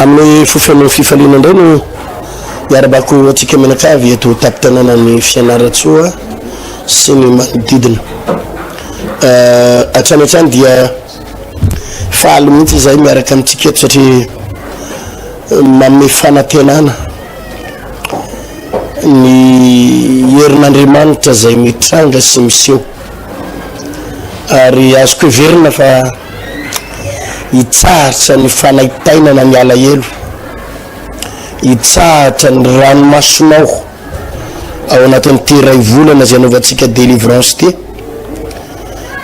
Amin'ny fo feno fifaliana indray no iarabako antsika mianakavy eto tapitanana ny Fianarantsoa sy ny manodidina. Euh, hatrany hatrany dia faly mihitsy izay miaraka amintsika eto satria euh, manome fanatenana ny herin'Andriamanitra izay mitranga sy miseho ary azoko heverina fa hitsahatra ny fanaitainana ny alahelo hitsahatra ny ranomasonao ao anatin'ity iray volana izay anaovantsika délivrance ity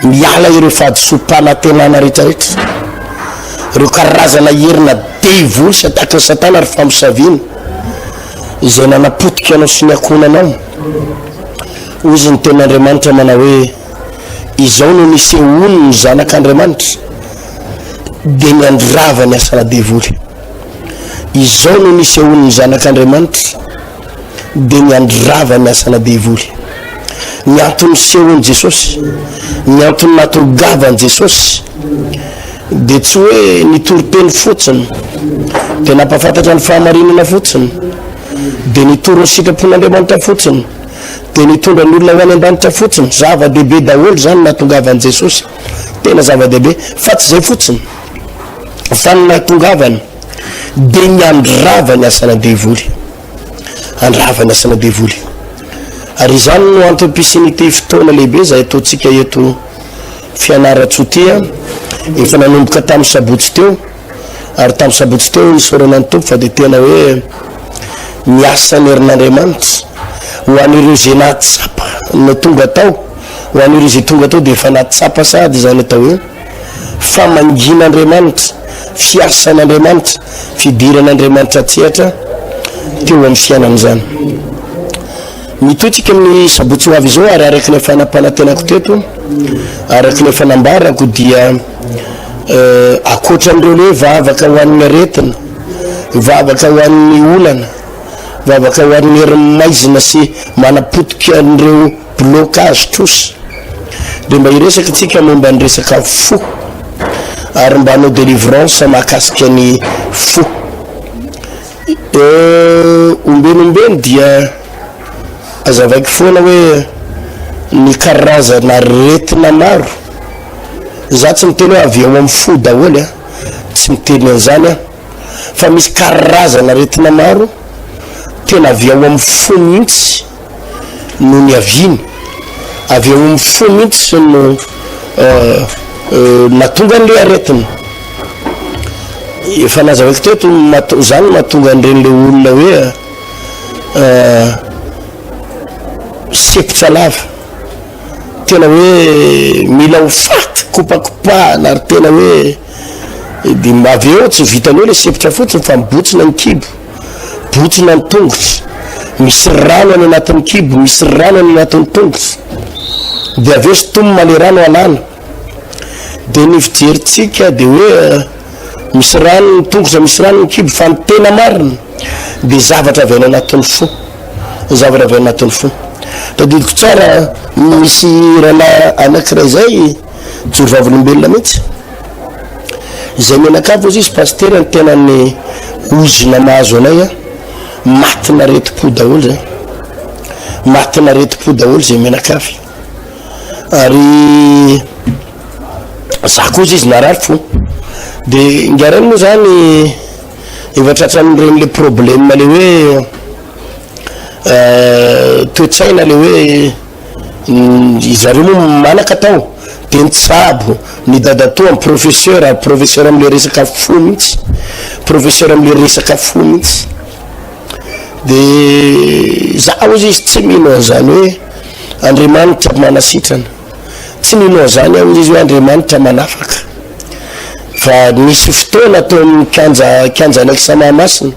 miala ireo fahadisoam-panantenana rehetrarehetra, ireo karazana herina devoly sy ataky ny Satana ary famosaviana izay nanapotika anao sy ny ankohonanao. Hozy ny tenin'Andriamanitra manao hoe, izao no nisehoany ny zanak'Andriamanitra, dia ny handrava ny asana devoly. Izao no nisehoany ny zanak'Andriamanitra, dia ny handrava ny asana devoly. Ny antony nisehoan'i Jesosy, ny antony nahatongavan'i Jesosy dia tsy hoe nitoriteny fotsiny, dia nampafantatra ny fahamarinana fotsiny, dia nitory ny sitrapon'Andriamanitra fotsiny, dia nitondra ny olona ho any an-danitra fotsiny. Zava-dehibe daholo izany nahatongavan'i Jesosy, tena zava-dehibe, fa tsy izay fotsiny, fa ny nahatongavany dia ny handrava ny asana devoly, handrava ny asana devoly. Ary izany no antom-pisian' ity fotoana lehibe izay ataontsika eto Fianarantsoa ity, efa nanomboka tamin'ny sabotsy teo, ary tamin'ny sabotsy teo nisaorana ny Tompo fa dia tena hoe ny asan'ny herin'Andriamanitra ho an'ireo izay nahatsapa no tonga tao, ho an'ireo izay tonga tao dia efa nahatsapa sahady izany atao hoe. fa mangina Andriamanitra, fiasan' Andriamanitra, fidiran' Andriamanitra an-tsehatra teo amin'ny fiainana izany. Mitohy tsika amin'ny sabotsy ho avy izao ary araka ny efa nampanantenako teto, araka ny efa nambarako dia eh, akoatra an'ireo hoe vavaka ho an'ny aretina, vavaka ho an'ny olana, vavaka ho an'ny herin'ny maizina sy manapotika an'ireo Blocage trosa de mba hiresaka tsika momba ny resaka fo ary mba hanao delivrance mahakasika ny fo eh, ombeny ombeny dia azavaiko foana hoe ny karazana retina maro za tsy miteny hoe avy ao amin'ny fo daholo a tsy miteny an'izany a fa misy karazana retina maro tena avy ao amin'ny fo mihitsy no niaviany, avy eo amin'ny fo mihitsy no nahatonga an'ilay aretina. Efa nazavaiko teto ny mahato- izany no mahatonga an'ireny ilay olona hoe sekotra lava, tena hoe mila ho faty, kopakopahana ary tena hoe. Avy eo tsy vitan'io ilay sepotra fotsiny fa mibotsina ny kibo, botsina ny tongotra, misy rano any anatin'ny kibo, misy rano any anatin'ny tongotra, dia avy eo sitomina ilay rano alana. Dia ny fijerintsika dia hoe eh, misy rano ny tongotra, misy rano ny kibo, fa ny tena marina dia zavatra avy any anatin'ny fo, zavatra avy any anatin'ny fo. Tadidiko tsara, misy rahalahy anankiray izay, mijoro vavolombelona mihitsy. Izay mianakavy hozy izy pasitera ny tena ny ozona mahazo anay a. Matina retim-po daholo zay. Matina retim-po daholo izay mianakavy. Ary za koa izy narary fo. Dia ingaray moa zany efa tratran'ireny le problème le hoe toetsaina le hoe Ry zareo moa manakatao dia nitsabo ny dadatoany professeur ary professeur amin'ilay resaka fo mihitsy, professeur amin'ilay resaka fo mihitsy. Dia za hozy izy tsy mino an'izany hoe Andriamanitra manasitrana, tsy mino an'izany aho hozy izy hoe Andriamanitra manafaka fa nisy fotoana tao amin'ny kianja kianjan'Aix Mahamasina,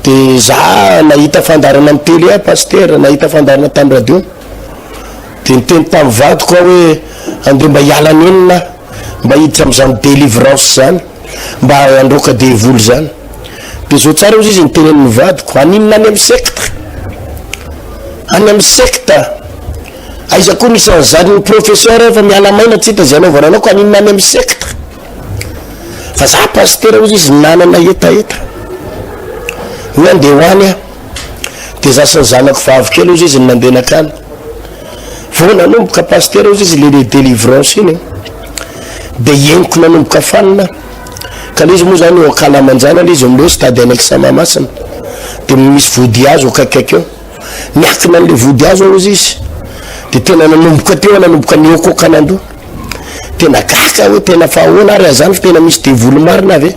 de za nahita fandarana am tele ah pasitera nahita fandarana tam radio de niteny tam vadiko ah hoe andeha mba hiala nenina ah mba hiditra amzany delivrance zany mba handroaka devoly zany de zao tsara ozy izy niteneniny vadiko aninona any am secte any am secte aiza koa misy anzany professeur efa miala maina tsy hita ze anaovana anao ka aninona any am secte Fa za pasitera ozy izy nanana hetaheta hoe andeha ho any aho de za sy ny zanako vavy kely ozy izy ny nandeha nakany vao nanomboka pasitera ozy izy le le délivrance iny de henoko nanomboka fanina ka le izy moa zany eo ankalamanjana le izy amle stade annexe mahamasina de misy vodihazo akaikaiky eo niakina an'le vodihazo ozy izy de tena nanomboka teo nanomboka nihokoka nandoha tena gaga aho hoe tena fa ahoana ary azany fa tena misy devoly marina ve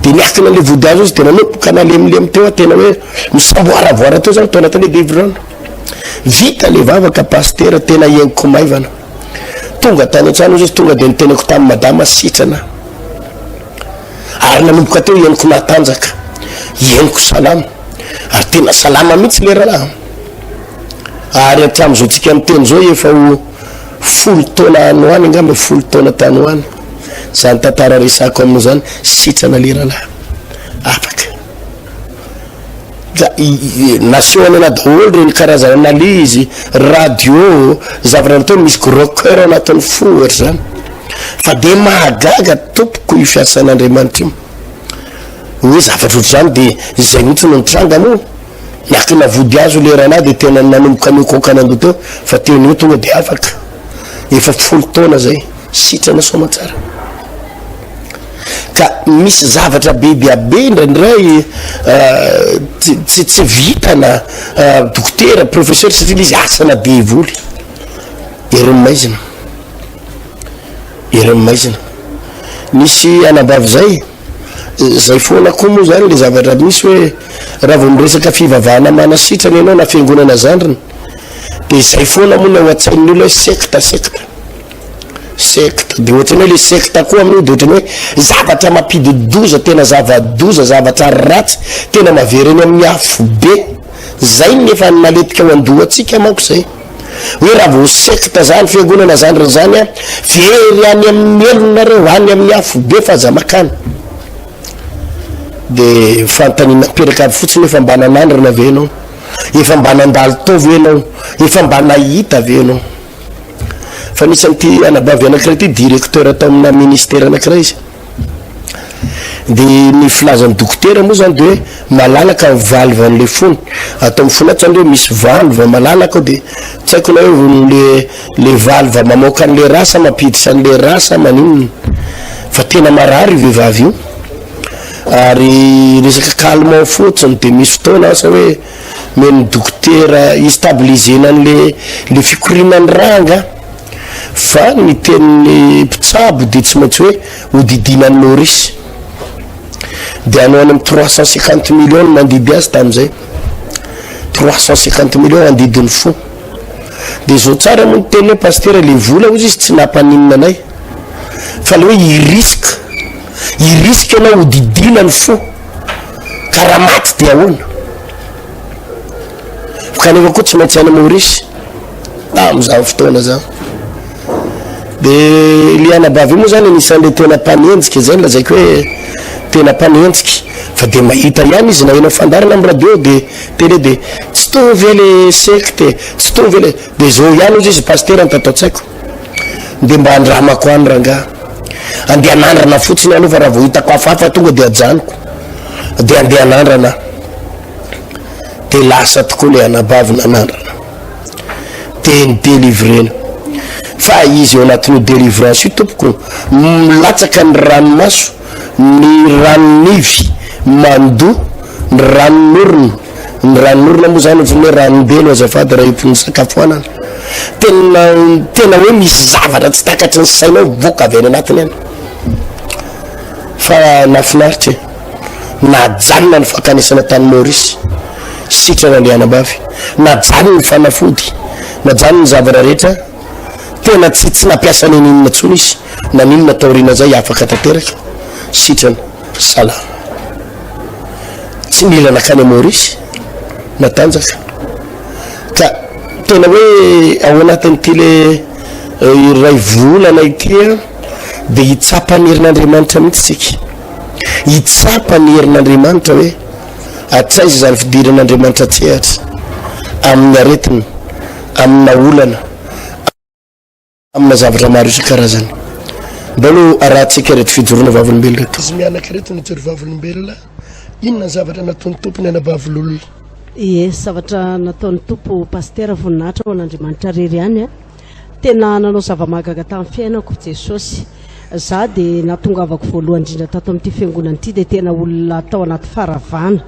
dia niakina an'ilay vody hazo izy dia nanomboka nalemilemy teo aho tena hoe misamboaravoara teo zany taona tena devrana vita le vavaka pastera tena henoko maivana tonga tany an-trano izy izy tonga dia niteneko tamin'ny madama sitrana ary nanomboka teo henoko natanjaka henoko salama ary tena salama mihitsy le rahalahy ary hatramin'izao tsika miteny izao efa ho Folo taona any ho any angamba folo taona tany ho any zany tantara resako aminao zany sitrana le rahalahy afaka nasehony ana daholo reny karazana analyse radio zavatra nataony misy groqueur ao anatin'ny fo ohatra zany fa de mahagaga tompoko io fiasan'andriamanitra io hoe zavatra ohatr'izany de izay mihitsy no mitranga moa Niakina vody azy ilay rahalahy dia tena nanomboka niokaokana an-doha teo fa teny eo tonga dia afaka. Efa folo taona izay. Sitrana sao aman-tsara. Ka misy zavatra be dia be indraindray tsy tsy vitana dokotera, professeur satria ilay izy asana devoly. Ireo maizina. Ireo maizina. Nisy anabavy izay. Izay foana koa moa izany ilay zavatra misy hoe raha vao miresaka fivavahana manasitrana ianao na fiangonana zandriny dia izay foana moa ny ao an-tsain'ny olona hoe sekta sekta sekta dia ohatrany hoe ilay sekta koa amin'io dia ohatrany hoe zavatra mampidi-doza tena zava-doza zavatra ratsy tena maverina amin'ny afobe izay ny efa naletika ao an-dohantsika manko izay hoe raha vao setroka zany fiangonana zany ry zany a very any amin'ny melonareo any amin'ny afobe fazamakana de fantanina mipiraka avy fotsiny efa mba nanandrana ve enao efa mba nandalo tao ve enao efa mba nahita ve enao fa nisy an'ity anabavy anakiray ty directeur tao amina ministère anakiray izy De ny filazan'ny dokotera moa zany de hoe malalaka ny valve an'le fony, ato amin'ny fonao zany hoe misy valve malalaka ao de tsy haiko ilay hoe le le valve mamoaka an'le ra sa mampiditra an'le ra sa maninona fa tena marary io vehivavy io ary resaka calmant fotsiny de misy fotoana asa hoe Omen'ny dokotera istabilisena an'le le fikorianan'ny rà angaha? Fa ny tenin'ny mpitsabo dia tsy maintsy hoe hodidiana an'i Maurice. Dia hanao any amin'ny trois cent cinquante millions no mandidy azy tamin'izay. Trois cent cinquante millions handidy ny fo. Dia izao tsara moa ny teny hoe pasitera le vola hozy izy tsy nampaninona anay. Fa le hoe i risque, i risque ianao hodidiana ny fo. ka raha maty dia ahoana? Kanefa koa tsy maintsy any Maorisy tamin'izany ah, fotoana zany. Dia Liana Bavy moa zany anisan'ilay tena mpanenjika izay lazaiko hoe tena mpanenjika fa dia mahita ihany izy na enao fandarina amin'ny radio dia tele dia tsy tonga ve le secte, tsy tonga ve le dia zao ihany ozy izy pasteur no tao tsaiko. Ndeha mba andramako any rangah. Andeha anandrana fotsiny aloha fa raha vao hitako hafahafa tonga dia ajanoko. Dia andeha anandrana aho. Dia lasa tokoa ilay anabavy nanandrana. Dia nidelivrena. Fa izy eo anatin'io delivrance io tompoko, milatsaka ny ranomaso ny ranonivy mandoa, ny ranon'orona, ny ranon'orona moa zany ohatran'ny hoe ranombelo azafady raha eto nisakafoanana, tena tena hoe misy zavatra tsy takatry ny sainao mivoaka avy any anatiny any fa nafinaritra e najanona ny fankanesana tany Maurice sitrana andrianambavy najanony fanafody najanony zavatra rehetra tena tsy tsy nampiasa nininona tsony izy naninona taorinanzay afaka tanteraka sitrana salama tsy mila nakany maorisy natanjaka ka tena hoe ao anatiny ty le iray volana itia de hitsapa ny herin'andriamanitra mihitsy tsika hitsapa ny herin'andriamanitra hoe Hatraiza izany fidiran'Andriamanitra an-tsehatra amin'ny aretina, amina olana, amina zavatra maro isan-karazany? Mbola arahantsika ireto fijoroana vavolombelona ireto. Izy mianaka ireto nijoro vavolombelona. Inona ny zavatra nataon'ny Tompo ny anabavololona? Ie, zavatra nataon'ny Tompo, Pasitera, voninahitra ho an'Andriamanitra rery ihany. Tena nanao zava-mahagaga tamin'ny fiainako Jesosy. Za dia natongavako voalohany indrindra tato amin'ity fiangonana ity dia tena olona tao anaty faravana.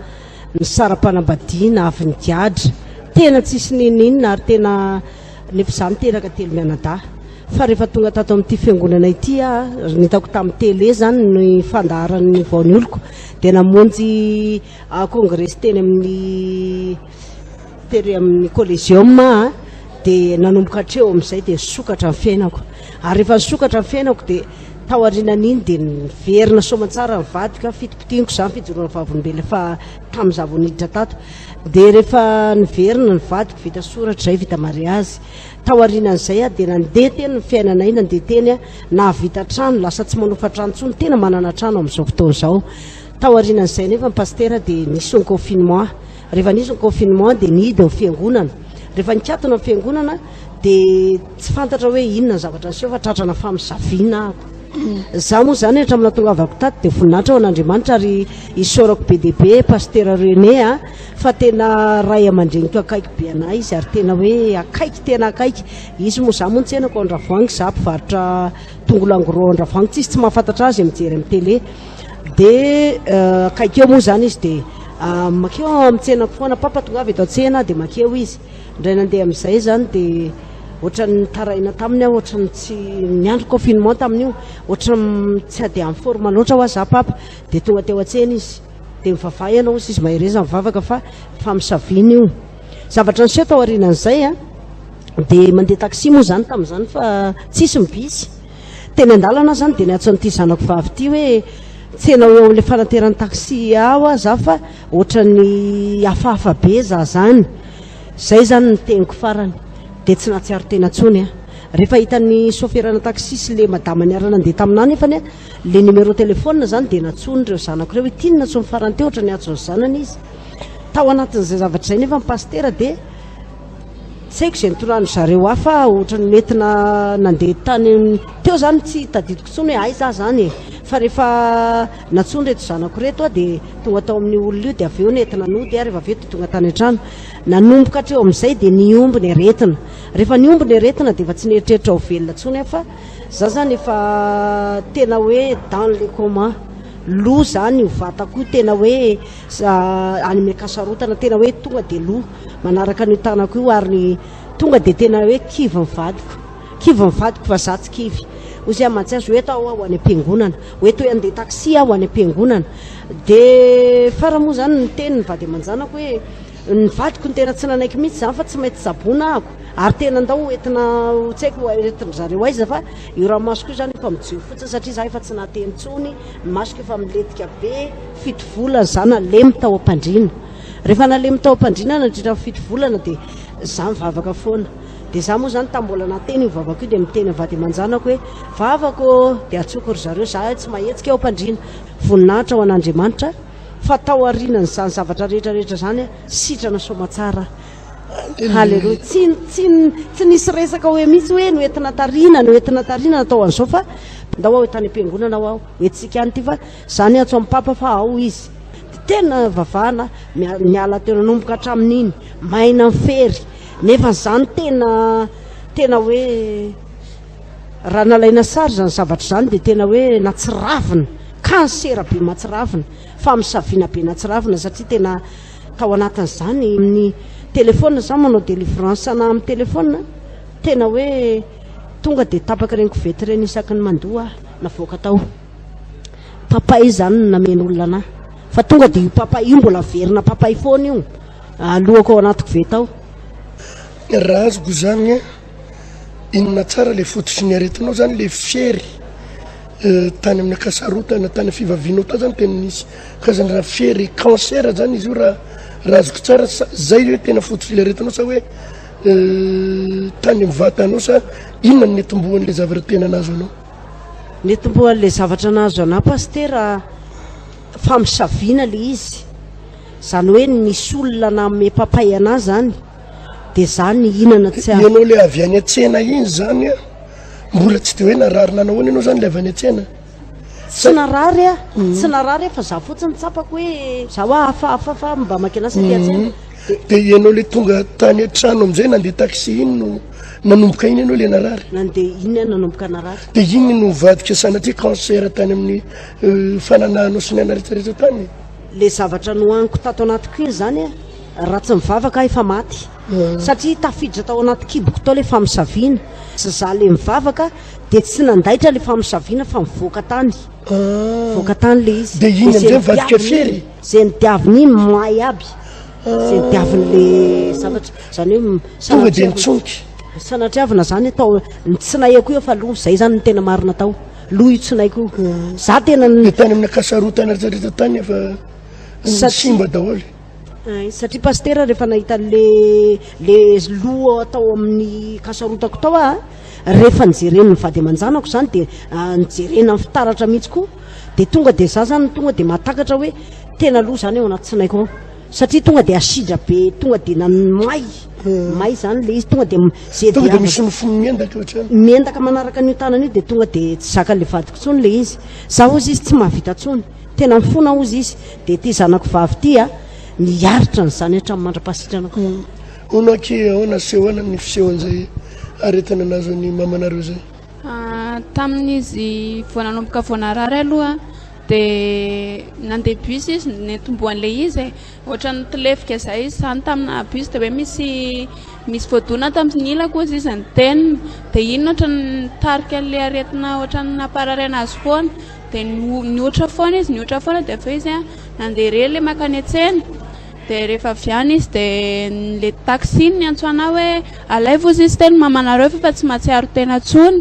Ny saram-panambadiana avy nigadra. Tena tsisy n'inon'inona ary tena nefa za miteraka telo mianadahy. Fa rehefa tonga tato amin'ity fiangonana ity aho, nitako tamin'ny télé zany ny fandaharan'ny vaon'ny oloko dia namonjy kongresy teny amin'ny tery amin'ny collegium a ah, dia nanomboka hatreo amin'izay dia nisokatra ny fiainako ary rehefa nisokatra ny fiainako dia tao arinan'iny dia niverina soamantsara ny vadiko a fitopotianiko izany fijoroana vavolombelona fa tamin'iza vao niditra tato dia rehefa niverina ny vadiko vita soratra izay vita mariazy tao arinan'izay a dia nandeha teny ny fiainanay nandeha teny a nahavita trano lasa tsy manofa trano tsoa ny tena manana trano amin'izao fotoana izao tao arinan'izay nefa ny pastera dia nisy ny confinement Rehefa nisy ny confinement dia nihidy ny fiangonana. Rehefa nikatona ny fiangonana dia tsy fantatra hoe inona ny zavatra niseho fa tratra na famisaviana aho. Za moa zany hatramin'ny natongavako tato dia voninahitra ho an'Andriamanitra ary isaorako be dia be Pasitera René a, fa tena ray aman-dreniko akaiky be anah izy ary tena hoe akaiky tena akaiky. Izy moa za moa ny tsenako ao Andravoahangy za mpivarotra Tongolo angorôndravangy tsisy tsy mahafantatra azy mijery amin'ny télé dia akaiky eo moa izany izy dia makeo amin'ny tsena foana papa tongava eto an-tsena dia makeo izy indray nandeha amin'izay izany dia ohatran'ny taraina taminy aho ohatran'ny tsy niandry confinement tamin'io ohatran'ny tsy ady en forme loatra hoa za papa dia tonga teo an-tsena izy dia mivavaha ianao hoy izy mahereza mivavaka fa fa misavina io Zavatra niseho tao aorianan'izay a, dia mandeha taxi moa izany tamin'izany fa tsisy ny bisy. Teny an-dalana izany dia niantso an'ity zanako vavy ity hoe tsena ho eo amin'ilay fanateran'ny taxi aho a za fa ohatran'ny hafahafa be za zany. Zay zany ny teniko farany dia tsy nahatsiaro tena tsony a. Rehefa hitan'ny soferana taxi sy le madama niarana ndeha tamin'ahy nefany a, le numéro téléphone zany dia nantsoiny ireo zanako ireo hoe t'inona tsy ny farany teo ohatran'ny niantso ny zanany izy. Tao anatin'izay zavatra izay nefa ny pasitera dia tsy haiko izay nitorahany zareo hafa ohatrany mety na nandeha tany teo zany tsy tadidiko tsony hoe aiza zany e fa rehefa natsony reto zanako reto a dia tonga tao amin'ny olona io dia avy eo nentina nody ary efa avy eo dia tonga tany an-trano nanomboka hatreo amin'izay dia nihombo ny aretina rehefa nihombo ny aretina dia efa tsy nieritreritra ho velona tsony fa za zany efa tena hoe dans le coma loha zany ho vatako tena hoe Za any miakasarotana tena hoe tonga dia lo manaraka an'io tanako io ary ny tonga dia tena hoe kivy ny vadiko kivy ny vadiko fa za tsy kivy hoy izy aman-tsy azy hoe eto aho ho any am-piangonana ho eto handeha taxi aho ho any am-piangonana dia fara moa izany niteny ny vady aman-janako hoe ny vadiko ny tena tsy nanaiky mihitsy izany fa tsy maintsy tsaboina ahako ary tena ndao ho entina ho tsy haiko entin-dry zareo aiza fa io ranomasoko io izany efa mijohy fotsiny satria za efa tsy nahateny intsony ny masoko efa milentika be Fito volana za nalemy tao ampandriana, rehefa nalemy tao ampandriana nandritra ny fito volana dia za mivavaka foana, dia za moa zany tam mbola nateny io vavaka io dia miteny ny vady aman-janako hoe vavako ô dia atsoko ry zareo za tsy mahetsika eo ampandriana, voninahitra ho an'Andriamanitra fa tao aorinan'izany zavatra rehetra rehetra zany sitrana soamatsara aho, haleloia, tsy tsy tsy nisy resaka hoe mihitsy hoe noentina tarinana, noentina tarinana tao an'izao fa ndao aho tany am-piangonana aho hoentintsika any ity fa. Zany antso am papa fa ao izy de tena vavahana miala teo nanomboka hatramin iny maina ny fery nefa zany tena tena hoe raha nalaina sary zany zavatra zany de tena hoe natsiravina kansera be matsiravina fa misavina be natsiravina satria tena tao anatin'izany amin'ny telefona zany manao délivrance ana amin'ny telefona tena hoe tonga de tapaka ireny kovety ireny isaky ny mandoa navoaka tao papay izany no namen'olona anah fa tonga dia io papay io mbola verina papay foana io alohako ao anaty koveta ao razoko zany eh, inona tsara le fototry ny aretinao zany le fiery eh, tany amin'ny akasarotana tany fivavianao ta zany tena nisy kazany raha fiery cancer zany izy io raha razoko tsara sa zay hoe tena fototry le aretinao sa hoe eh, tany mivatanao sa inona ny tombohan'le zavatra tena nazo anao Mety mboa le zavatra nahazo anah Pasitera famisaviana le izy zany hoe nisy olona nanome papay anah zany de zah nihinana tsy ahy. Ianao le avy any an-tsena iny zany a mbola tsy de hoe narary na nahoana ianao zany le avy any an-tsena. Tsy narary a, tsy narary a fa zah fotsiny tsapako hoe zah hoa hafahafa fa mba mankena asa aty an-tsena. De ianao le tonga tany an-trano amizay nandeha taxi iny no. nanomboka iny ianao le narary nande iny a nanomboka narary de igny no vadika sanatria cancer tany amin'ny euh, fananahanao sy ny anaretraretra tany le zavatra nohaniko tato anatiko iny zany a raha tsy mivavaka ahy fa maty ah. satria tafiditra tao anaty kiboko tao le famosaviana tsy za le mivavaka de tsy nandaitra le famosaviana fa mivoaka tany ah. voaka tany le izy de iny amizay vadika fery zay ny diaviny iny may aby Zay ny diaviny le zavatra. Zany hoe Tonga dia nitsongy. sanatriavina zany atao ny tsinahiko io fa lo zay zany ny tena marina tao lo io tsinaiko io hmm. za tena ny tany amina kasarotana retraretra tany efa simba daholo Eh, satria pastera rehefa nahita le le loha atao amin'ny kasarotako tao a rehefa nijeren'ny vady aman-janako zany dia ah, nijerena ny fitaratra mihitsy koa dia tonga dia za zany tonga dia mahatakatra hoe Tena lo zany ao anaty tsinaiko ao satria tonga dia asidra be tonga dia nan may hmm. may zany le izy tonga dia ztonga dia mifonofono miendaka ohatrany miendaka manaraka an'io tanana io dia tonga dia tsy zaka le vadiko tsony le izy za ozy izy tsy mahavita tsony tena mifona ozy izy dia ty zanako vavy ty a niaritra ny zany hatramin'ny mandra-pasitranako hmm. ono ake aona sehoana ny fisehon'izay aretina anazo ny mamanareo zay ah, tamin'izy voananomboka voanarary aloha Dia nandeha bus izy nentombohan'ilay izy e, ohatran'ny tlefika izay izy, zany tamina bus dia hoe misy misy voadona tamin'ny ilako hozy izy niteny, dia iny ohatran'ny nitarika an'ilay aretina ohatran'ny nampararaina azy foana, dia niotra foana izy niotra foana dia avy eo izy nandeha irery ilay makany an-tsena, dia rehefa avy any izy dia ilay taxi niantsoana ahy hoe alaivo hozy izy teny mamanareo fa efa tsy mahatsiaro tena intsony.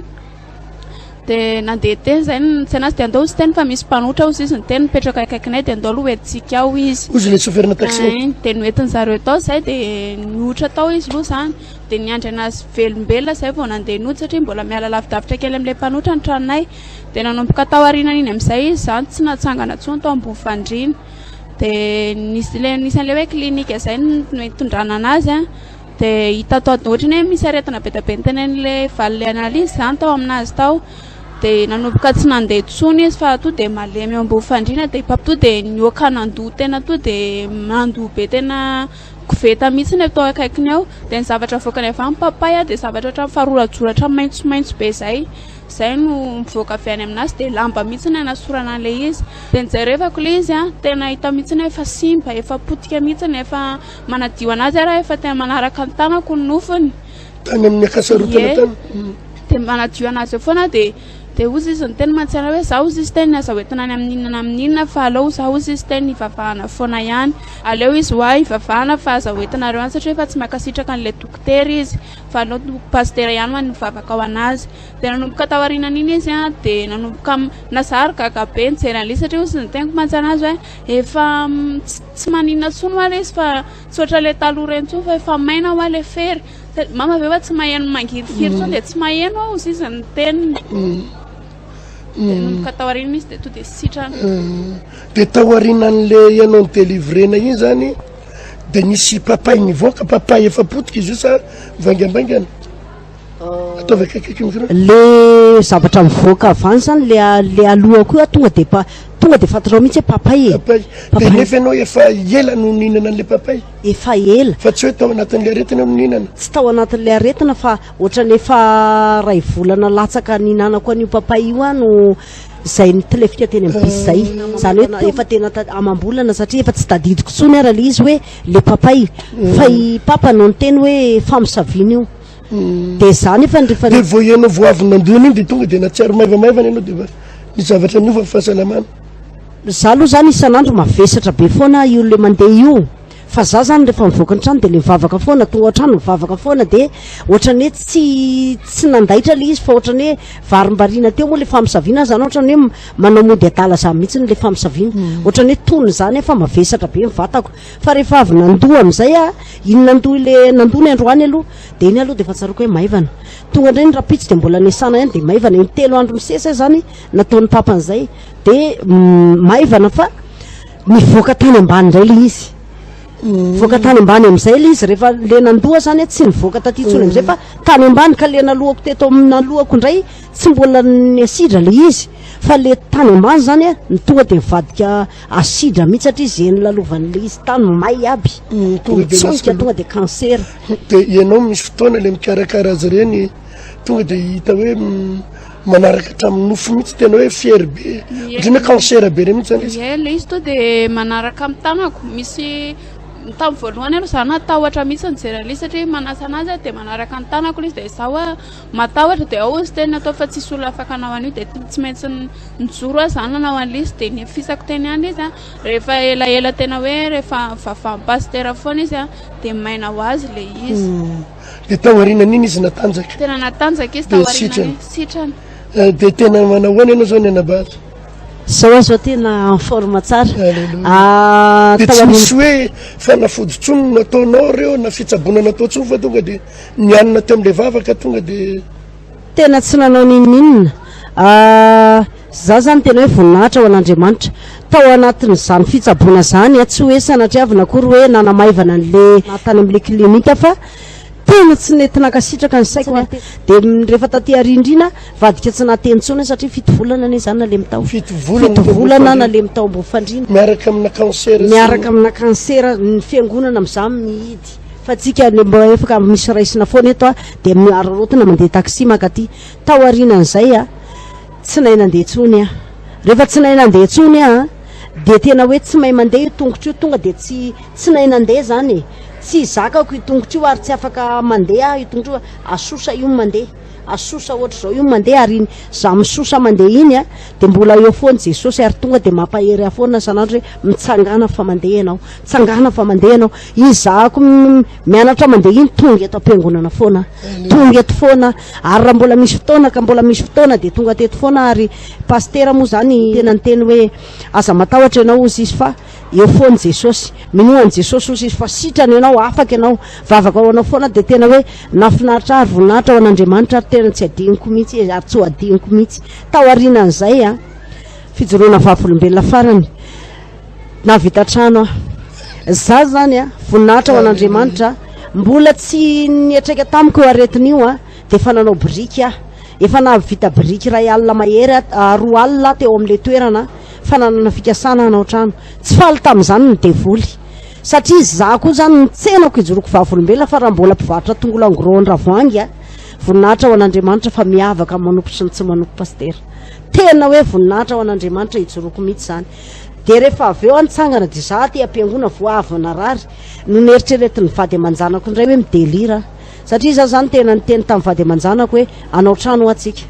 dia nandeha teny izay ny tsaina azy dia andao izy teny fa misy mpanotra ao izy ny teny mipetraka akaikinay dia andao aloha hoentintsika ao izy ozy ilay soferinà taxi eh, dia noentin'ny zareo tao izay dia niotra tao izy aloha izany dia niandry anazy velombelona izay vao nandeha nody satria mbola miala lavidavitra kely amin'ilay mpanotra ny tranonay dia nanomboka tao arinana iny amin'izay izy izany tsy natsangana tsoa ny tao ambony fandriana dia nisy ilay nisan'ilay hoe klinika izay noentondrana anazy a ah. Dia hitato adina ohatry ny hoe misy aretina be dia be niteneniny le valo le analyse zany tao aminazy tao dia nanomboka tsy nandeha tsony izy fa to dia malemy eo ambony fandriana dia pap to dia nioaka nandoa tena to dia mandoa be tena koveta mihitsy ny atao akaikiny eo dia ny zavatra voakany avy any papay dia zavatra ohatran'ny farolajolatra maitsomaitso be zay zay no mivoaka avy any aminazy dia lamba mihitsy ny anasorana le izy dia nijerevako le izy a tena hita mihitsy ny efa simba efa potika mihitsy ny efa Manadio anazy ara efa tena manaraka ny tanako ny nofony. Tany amin'ny akasarotana tany. Mm. Dia manadio anazy eo foana dia dia ozy izy ny teny mantsiana hoe za ozy izy teny aza hoentina any amin'inona amin'inona fa aleo za ozy izy teny hivavahana foana ihany aleo izy hoa hivavahana fa aza hoentinareo any satria efa tsy makasitraka an'ilay dokotera izy fa aleo pastera ihany hoany mivavaka ho anazy dia nanomboka taorinan'iny izy a dia nanomboka nazary gagabe nijery an'ilay satria ozy ny teniko mantsiana azy hoe efa mm, Tsy maninona tsony wa resy fa tsy ohatra le taloha reny tsony fa efa maina wa le fery. Mama ve wa tsy maheno mangirifiry tsony dia tsy maheno aho ozy izy ny teniny. Dia nomboka tao aoriana izy dia to dia sitrana. Dia tao aorianan'le ianao ny delivrena iny zany dia nisy papay nivoaka, papay efa potika izy io sa vaingambaingana? ataovy akaikikaiky mihitsy re le zavatra mivoaka avy any zany le le aloha koa tonga de pa tonga de fantatrao mihitsy hoe papay e papay de nefa ianao efa ela no nihinana an'le papay efa ela fa tsy hoe tao anatin'le aretina no nihinana tsy tao anatin'le aretina fa ohatrany efa ray volana latsaka nihinanako an'io papay io aho no zay nitlefika teny amin'ny bis zay zany hoe efa tena amam-bolana satria efa tsy tadidiko intsony ary le izy hoe le papay mm. fa i papa no niteny hoe famosavina io mm. de za nefa ny refa de vao ianao vao avy nandoana iny de tonga de natsiaro maivamaivana ianao de fa ny zavatra ny ofa fahasalamana za aloha zany isan'andro mavesatra be foana io le mandeha io fa za zany rehefa mivoaka ny trano de le mivavaka foana tonga otrano mivavaka foana de ohatrany hoe tsy tsy nandaitra le izy fa ohatrany hoe varimbarina teo moa le famisaviana zany ohatrany hoe Manao mody adala za mihitsy le famisavina mm. ohatrany hoe tony za nefa mavesatra be ny vatako fa rehefa avy nandoa amizay a iny nandoa le nandoa ny androany aloha de iny aloha de efa tsaroako hoe maivana tonga ndray ny rapitsy de mbola nesana ihany de maivana iny telo andro misesa zany nataon'ny papan'izay de mm, maivana fa mivoaka tany ambany ndray le izy mm. voaka tany ambany amizay le izy rehefa le nandoa zany a tsy nivoaka taty tsony amizay fa tany ambany ka le nalohako teto amnalohako ndray Tsy mbola niasidra le izy fa le tany ambany zany a ny tonga de mivadika asidra mihitsy satria ze nilalovan'ny le izy tany may aby mm, de mitsonika tonga de cancer de ianao misy fotoana le mikarakara azy ireny tonga de hita hoe mm, manaraka hatramin'ny nofo mihitsy tena hoe fiere be otrany cancer be re mihitsy zany izy le izy to de manaraka amin'ny tanako misy tamin'ny voalohany aloha za natahotra mihitsy nijery an'le satria manasa anazy de manaraka ny tanako le izy de za hoe Matahotra dia ao izy teny atao fa tsisy olona afaka hanao an'io dia tsy maintsy nijoro aho izany nanao an'ilay izy dia nihafisako teny ihany izy rehefa elaela tena hoe rehefa vavahan'i pasitera foana izy dia maina ho azy ilay izy. Hmm. Dia tao aorianan'iny izy natanjaka. Tena natanjaka izy tao aorianan'iny. Sitrana. Eh, dia tena manao hoana ianao izao ny anabavy? Sao azo tena en forme tsara. Ah, dia tsy misy hoe fanafody tsony nataonao ireo na fitsaboana natao tsony fa tonga dia Nianona teo amin'ilay vavaka tonga dia. Tena tsy nanao n'inon'inona. Ahh, za zany tena hoe voninahitra ho an'Andriamanitra. Tao anatin'izany fitsaboana zany a, tsy hoe sanatriavina akory hoe nanamaivana an'le ahy tany amin'le clinique fa tena tsy nety nankasitraka ny saiko a. Dia rehefa taty arindrina, vadika tsy naha teny intsony aho satria fito volana anie zany nalemy tao. Fito volana nalemy tao ambony fandriana. Fito volana nalemy tao ambony fandriana. Miaraka amina cancer sy. Miaraka amina cancer, ny fiangonana mizaha mihidy. Fa tsika le mba efaka misy raisina foana eto a dia miararaotina mandeha taxi makaty tao arinan'izay a tsy nahy nandeha tsony a rehefa tsy nahy nandeha tsony a dia tena hoe tsy mahy mandeha io tongotra io tonga dia tsy tsy nahy nandeha zany e tsy zakako io tongotra io ary tsy afaka mandeha aho io tongotra io asosa io mandeha asosa ohatr'izao io mandeha ary iny za misosa mandeha iny a dia mbola eo foana jesosy ary tonga dia mampahery ahy foana sanandro hoe mitsangana fa mandeha ianao tsangana fa mandeha ianao Izahako mianatra mandeha iny tonga eto am-piangonana foana tonga eto foana ary raha mbola misy fotoana ka mbola misy fotoana dia tonga teto foana ary pastera moa zany tena ny teny hoe aza matahotra ianao ozy izy fa eo foany Jesosy minoany Jesosy ozy izy fa sitrany ianao afaka ianao vavaka ho anao foana dia tena hoe nafinaritra ary voninahitra ho an'Andriamanitra ary tena tsy adiniko mihitsy e, ary tsy ho adiniko mihitsy taorinan'izay a fijoroana vavolombelona farany Nahavita trano aho. Za zany a, voninahitra ho an'Andriamanitra, mbola tsy niatreka tamiko io aretina io a, dia efa nanao biriky aho. Efa nahavita biriky iray alina mahery aho, roa alina aho teo amin'ilay toerana fa nanana fikasana hanao trano. Tsy faly tamin'izany ny devoly. Satria za koa zany ny tsenako ijoroako vavolombelona fa raha mbola mpivarotra tongolo angro Andravoahangy a, voninahitra ho an'Andriamanitra fa miavaka ny manompo sy ny tsy manompo Pasitera. Tena hoe voninahitra ho an'Andriamanitra ijoroako mihitsy zany. Dia rehefa avy eo aho nitsangana dia izaho aty am-piangonana vao avy narary no neritreretin'ny vady aman-janako indray hoe mi-delire aho. Satria izaho izany tena niteny tamin'ny vady aman-janako hoe hanao trano hoa tsika.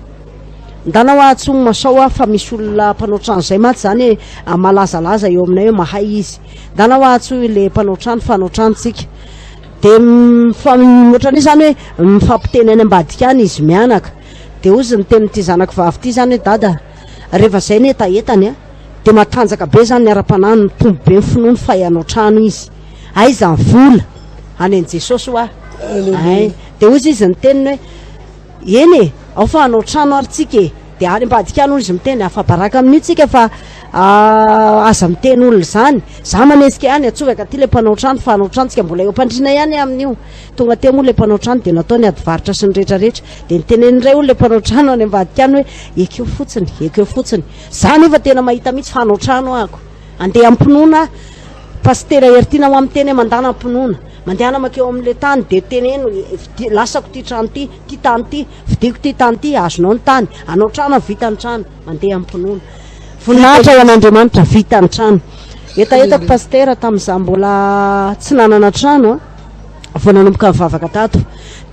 Ndana hoa atsy hono masao hoa fa misy olona mpanao trano izay mantsy izany e, ah, malazalaza eo aminay hoe mahay izy. Ndana hoa atsy hoy ilay mpanao trano fa hanao trano tsika. Dia mifa- ohatran'io izany hoe mifampiteny any ambadika any izy mianaka. Dia hozy niteny ity zanako vavy ity izany hoe dada, rehefa zay ny hetahetany a de matanjaka be zany ny ara-panahiny mitombo be ny finoany fa ianao trano izy aiza ny vola any an'i jesosy hoa ay de hoy izy izy ny teniny hoe eny e ao fa hanao trano ary tsika e de any ambadika any hoy izy miteny afa-baraka amin'io tsika fa ah, aza miteny olona zany za manesika ihany atsovaka aty le mpanao trano fa hanao trano tsika mbola eo am-pandriana ihany amin'io Tonga teo moa ilay mpanao trano dia natao ny adivarotra sy ny rehetra rehetra. Dia niteneniny indray hono ilay mpanao trano any ambadika any hoe, ekeo fotsiny, ekeo fotsiny. Za nefa tena mahita mihitsy fa hanao trano aho ko. Andeha hampinoana aho. Pasitera Hery Tiana hoa miteny hoe mandana hampinoana. Mandehana makeo amin'ilay tany dia teneno, lasako ity trano ity, ity tany ity, vidiko ity tany ity, azonao ny tany, hanao trano aho, vita ny trano. Mandeha hampinoana. Voninahitra ho an'Andriamanitra, vita ny trano. Hetahetako pasitera tamin'izaho mbola tsy nanana trano. vao nanomboka nivavaka tato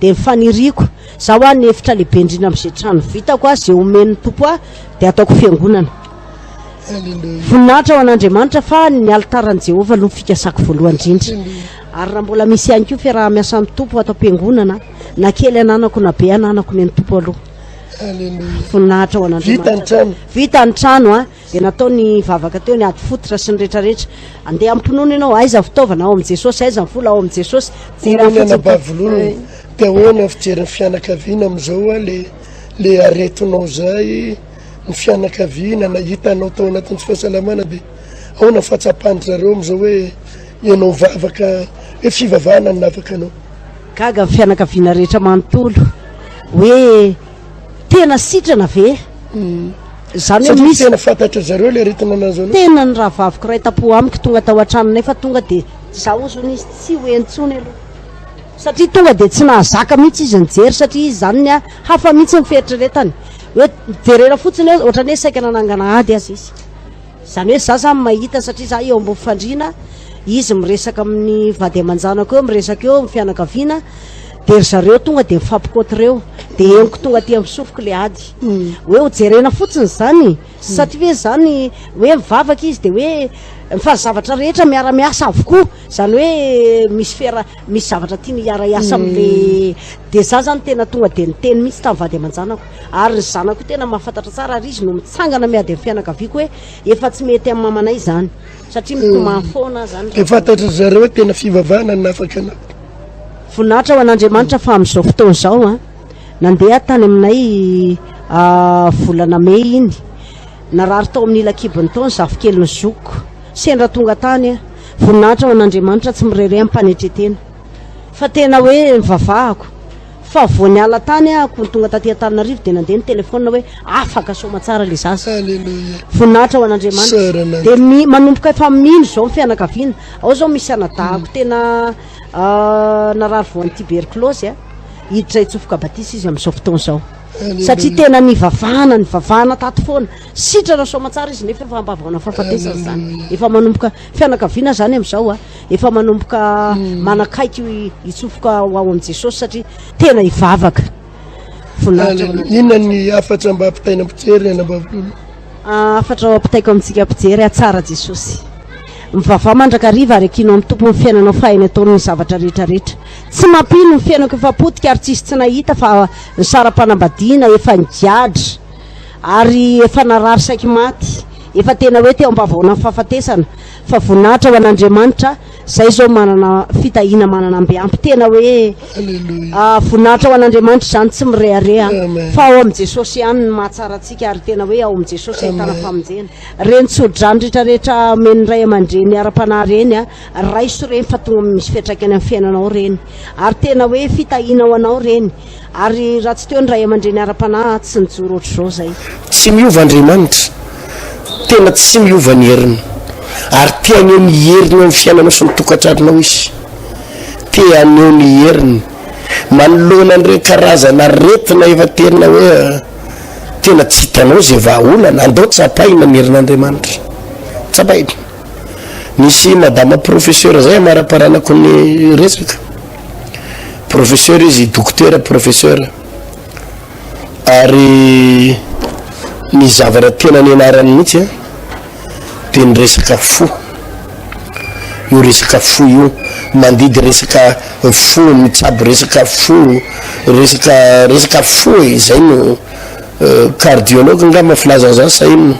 dia ny faniriako zaho hoa ny efitra lehibe indrindra amin'izay trano vitako hoa izay omen'ny tompo hoa dia ataoko fiangonana voninahitra ho an'andriamanitra fa ny alitaran'i jehovah aloha fikasako voalohany indrindra ary raha mbola misy ihany koa fiaraha miasa amin'ny tompo atao mpiangonana na kely ananako na be ananako ny an'ny tompo aloha voninahitra ho an'andriamanitra vita ny trano a Dia natao ny vavaka teo ny ady fototra sy ny retraretra. Andeha ampinono ianao, aiza ny fitaovana, ao amin'i Jesosy, aiza ny vola, ao amin'i Jesosy. Jereo fotsiny. Hoy ny anabavy dia ahoana ny fijerin'ny fianakaviana amin'izao le le aretinao zay, ny fianakaviana na hitanao tao anatin'ny tsy fahasalamana dia ahoana fahatsapan-dry zareo amin'izao hoe ianao vavaka hoe fivavahana ny navaka anao. Gaga ny fianakaviana rehetra manontolo hoe. Tena sitrana ve? Zany hoe misy. Satria tena fantatry zareo le aretina nahazo anao. Tena ny rahavaviko iray tampo amiko tonga tao an-trano nefa tonga de za ozony izy tsy ho eny tsony aloha. Satria tonga de tsy nahazaka mihitsy izy nijery satria izy zany ny hafa mihitsy ny fieritreretany. Hoe jerena fotsiny hoe ohatrany hoe saika nanangana ady aza izy. Izany hoe za zany mahita satria za eo ambony fandriana, izy miresaka amin'ny vady aman-janako eo, miresaka eo amin'ny fianakaviana, dia ry zareo tonga dia mifampikoty ireo, dia henoko tonga aty amin'ny sofiko le ady. Hoe ho jerena fotsiny izany, satria ve izany hoe mivavaka izy dia hoe fa ny zavatra rehetra miara-miasa avokoa, izany hoe misy fera, misy zavatra tiany hiara-hiasa amin'le, dia za zany tena tonga dia niteny mihitsy tamin'ny vady aman-janako. Ary ry zanako io tena mahafantatra tsara ary izy no mitsangana miady amin'ny fianakaviako hoe efa tsy mety amin'ny mamanay izany satria mitomany foana izany. Dia fantatry zareo hoe tena fivavahana no nahafaka anao. Voninahitra ho an'Andriamanitra fa amin'izao fotoana izao an, nandeha tany aminay volana mey iny, narary tao amin'ila kibony tao ny zafikelin'ny zokiko, sendra tonga tany aho. Voninahitra ho an'Andriamanitra tsy mirere amim-panetretena fa tena hoe nivavahako. Fa vao niala tany aho ko tonga taty Antananarivo dia nandeha ny telephone hoe afaka soamatsara le zaza. Alléluia. Voninahitra ho an'Andriamanitra. Sœur Ananty. Dia mi- manomboka efa mino izao ny fianakaviana. Ao izao misy anadahako tena ah, narary voan'ny tuberculose a. Hiditra hitsofoka batisa izy amin'izao fotoana izao. Alléluia. Satria tena nivavahana, nivavahana tato foana. Sitrana soamatsara izy nefa efa am-pahavaona fahafatesana izany. Alléluia. Efa manomboka fianakaviana izany amin'izao a. efa manomboka hmm. manakaiky hitsofoka ho ao amin'i jesosy satria tena hivavaka inona ny afatra mba ampitaina mpijery ny anabavlolo ah, afatra ao ampitaiko amintsika mpijery atsara jesosy mivavao mandrakariva ary akinao amin'ny tompo ny fiainanao fahany ataony ny zavatra rehetrarehetra tsy mampino ny fiainako efa potika ary tsisy tsy nahita fa ny sara-panambadiana efa nigadra ary efa narary saiky maty efa tena hoe te ambavaona ny fahafatesana Fa voninahitra ho an'Andriamanitra, izay izao manana fitahiana manana mbe ampy tena hoe ah, voninahitra ho an'Andriamanitra izany tsy mirehareha fa ao amin'i Jesosy ihany ny mahatsara antsika ary tena hoe ao amin'i Jesosy ahitana famonjena. Reny tsodrano rehetra rehetra omen'ny ray aman-dreny ara-panahy ireny ah, raiso ireny fa tonga misy fiantraikany amin'ny fiainanao ireny ary tena hoe fitahiana ho anao ireny. Ary raha tsy teo ny ray aman-dreny ara-panahy, tsy nijoro hoatr'izao izay. Tsy miova Andriamanitra. Tena tsy miova ny heriny. Ary te haneho ny heriny eo amin'ny fiainanao sy ny tokantranonao Izy. Te haneho ny heriny. Manoloana an'ireny karazana aretina efa tena hoe tena tsy hitanao izay vahaolana, andao tsapaina ny herin'Andriamanitra. Tsapaina. Nisy madama professeur izay amaraparanako ny resaka. Professeur izy, dokotera, professeur, ary ny zavatra tena nianarany mihitsy an, dia ny resaka fo, io resaka fo io, mandidy resaka fo, mitsabo resaka fo, resaka resaka fo e, zay no cardiologue ngamba filazany zany sa inona.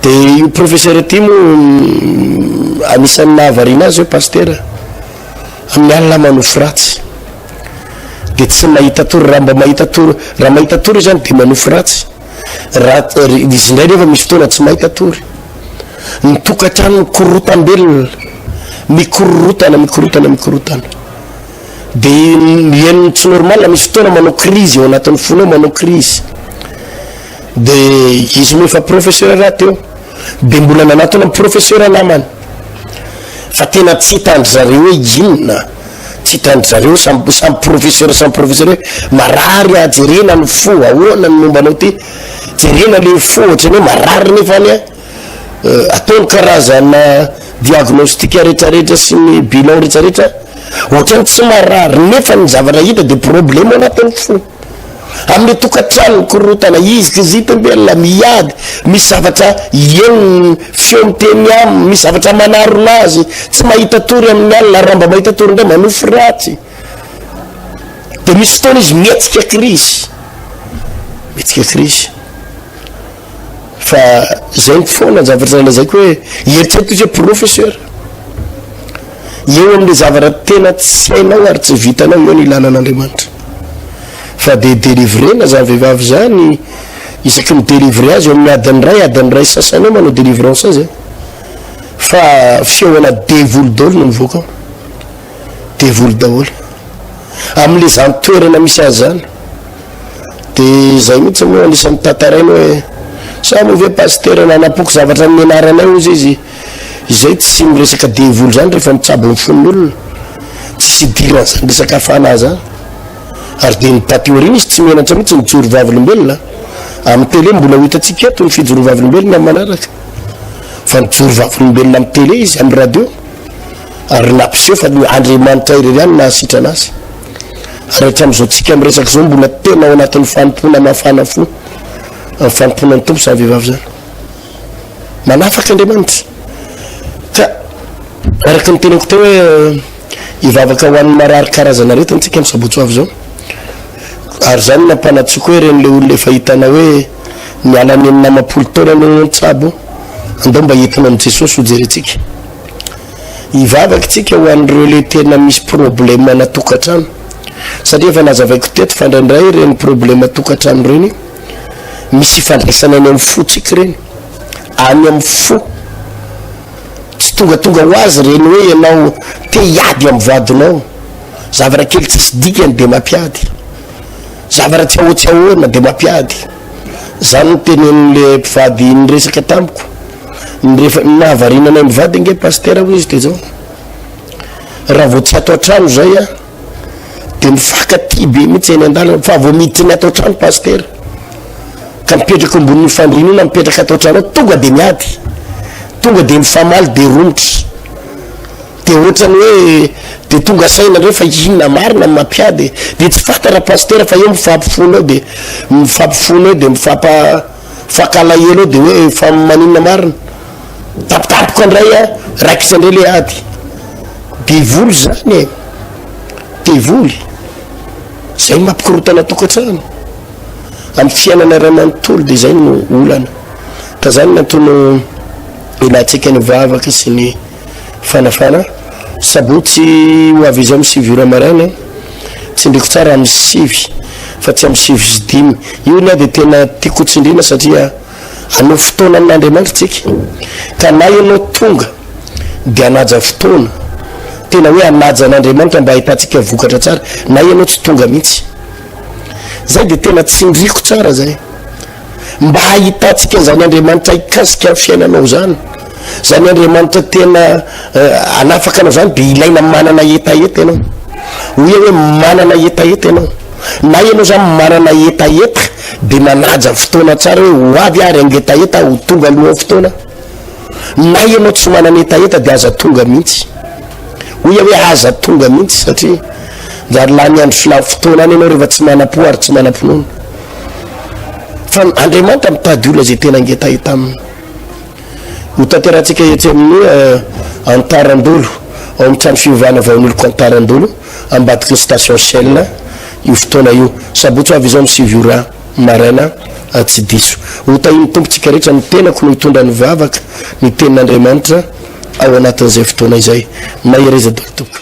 De io professeur ity moa anisan'ny mahavariana azy eo pasitera amin'ny alina manofy ratsy de tsy mahita tory raha mba mahita tory raha mahita tory izany de manofy ratsy raha izy indray nefa misy fotoana tsy mahita tory ny tokantrano mikorotam-belona mikororotana mikorotana mikorotana de mihaino tsy normal misy fotoana manao crise eo anatin'ny fonao manao crise De izy moa efa professeur rahateo de mbola nanatona ny professeur namany fa tena tsy hitan-dry zareo hoe inona tsy hitan-dry zareo samy samy professeur samy professeur hoe marary aho jerena ny fo ahoana ny momba anao ty jerena le fo ohatran'ny hoe marary nefa any a ataony karazana diagnostic retraretra sy ny bilan retraretra ohatran'ny tsy marary nefa ny zavatra hita de problème ao anatin'ny fo amin'ny tokantrano mikorontana izy kizito mbelona miady misy zavatra ienony feo miteny aminy misy zavatra manarona azy tsy mahita tory amin'ny alina raha mba mahita tory indray manofy ratsy dia misy fotoana izy mihetsika krizy mihetsika krizy Fa zay ny foana ny zavatra lazaiko hoe eritrereto izy hoe professeur. Eo amin'ilay zavatra tena tsy hainao ary tsy vitanao eo ny ilana an'Andriamanitra. Fa dia délivrena zany vehivavy zany isaky ny délivrer azy eo amin'ny adin'ny iray, adin'ny iray sasany eo manao délivrance azy. Fa fihaona devoly daholo no mivoaka ao. Devoly daholo. Amin'ilay zany toerana misy azy zany. Dia izay mihitsy no anisan'ny tantarainy hoe, sa moa ve pasitera nanapoaka zavatra nianaranay hozy izy? Izay tsy miresaka devoly izany rehefa mitsabo ny fon'ny olona. Tsisy idiran'izany resaka fanahy izany. Ary dia ny daty aoriana izy tsy menatra mihitsy nijoro vavolombelona. Amin'ny tele mbola ho hitantsika eto ny fijoroany vavolombelona amin'ny manaraka. Fa nijoro vavolombelona amin'ny tele izy, amin'ny radio. Ary nampiseho fa ny Andriamanitra irery ihany nahasitrana azy. Ary hatramin'izao tsika miresaka izao mbola tena ao anatin'ny fanompoana mafana fo, amin'ny fanompoana ny Tompo izany vehivavy izany. Manafaka Andriamanitra. Ka araka ny teniko teo hoe hivavaka ho an'ny marary karazana aretina tsika amin'ny sabotsy avy izao. Ary izany nampanatsiko hoe ireny le olona efa hitanao hoe niala ny enina amapolo taona ny tsabo, andao mba entina amin'i Jesosy ho jerentsika. Hivavaka isika ho an'ireo le tena misy problème ana tokatrano satria efa nazavaiko teto fa indraindray ireny problème tokatrano ireny misy ifandraisany any amin'ny fontsika ireny any amin'ny fo tsy tongatonga ho azy ireny hoe ianao te hiady amin'ny vadinao zavatra kely tsisy dikany dia mampiady zavatra tsy ahoa tsy ahoana dia mampiady Zany no tenenin le mpivady niresaka tamiko ny refa ny mahavariana anay mivady ange pasitera hoy izy de zao raha vao tsy ato an-trano zay a de mifankatia be mihitsy eny an-dalana fa vao miditra ny ato an-trano pasitera ka mipetraka ambonin'ny fandriana io na mipetraka ato an-trano ao tonga de miady tonga de mifamaly de romotra Dia ohatrany hoe dia tonga saina ndray fa inona marina ny mampiady e! Dia tsy fantatra Pasitera fa eo mifampifona eo dia mifampifona eo dia mifampa fankalahelo eo dia hoe fa maninona marina? Tampotampoka ndray a! Raikitra ndray le ady! Devoly zany e! Devoly! Zay no mampikorotana tokantrano! Amin'ny fiainana iray manontolo dia zay no olana! Ka zany no antony ilatsika ny vavaka sy ny fanafana sabotsy ho avy izao amin'ny sivy ora maraina e! tsindriko tsara amin'ny sivy fa tsy amin'ny sivy sy dimy io ny ahy dia tena tiako ho tsindriana satria anao fotoana amin'Andriamanitra tsika ka na ianao tonga dia hanaja fotoana tena hoe hanaja an'Andriamanitra mba hahitantsika vokatra tsara na ianao tsy tonga mihitsy zay dia tena tsindriko tsara zay mba hahitantsika izany Andriamanitra hikasika ny fiainanao izany, izany Andriamanitra tena hanafaka anao izany dia ilaina manana hetaheta ianao. Hoy aho hoe manana hetaheta ianao. Na ianao izany manana hetaheta dia manaja ny fotoana tsara hoe ho avy ary hangetaheta ho tonga alohan'ny fotoana. Na ianao tsy manana hetaheta dia aza tonga mihitsy. Hoy aho hoe aza tonga mihitsy satria njary lany andro sy lany fotoana any ianao rehefa tsy manam-po ary tsy manam-pinoana. Fa Andriamanitra mitady olona izay tena ngetahy taminy. Hotanterahantsika etsy amin'ny uh, Antaran-dolo, ao amin'ny trano fiovana vaon'oloko Antaran-dolo, ambadiky ny station Shell, io fotoana io. Sabotsy ho avy izao amin'ny sivy ora maraina uh, tsy diso. Hotahian'ny Tompo tsika rehetra, ny tenako no hitondra ny vavaka, ny tenin'Andriamanitra ao anatin'izay fotoana izay. Mahereza daholo tompoko.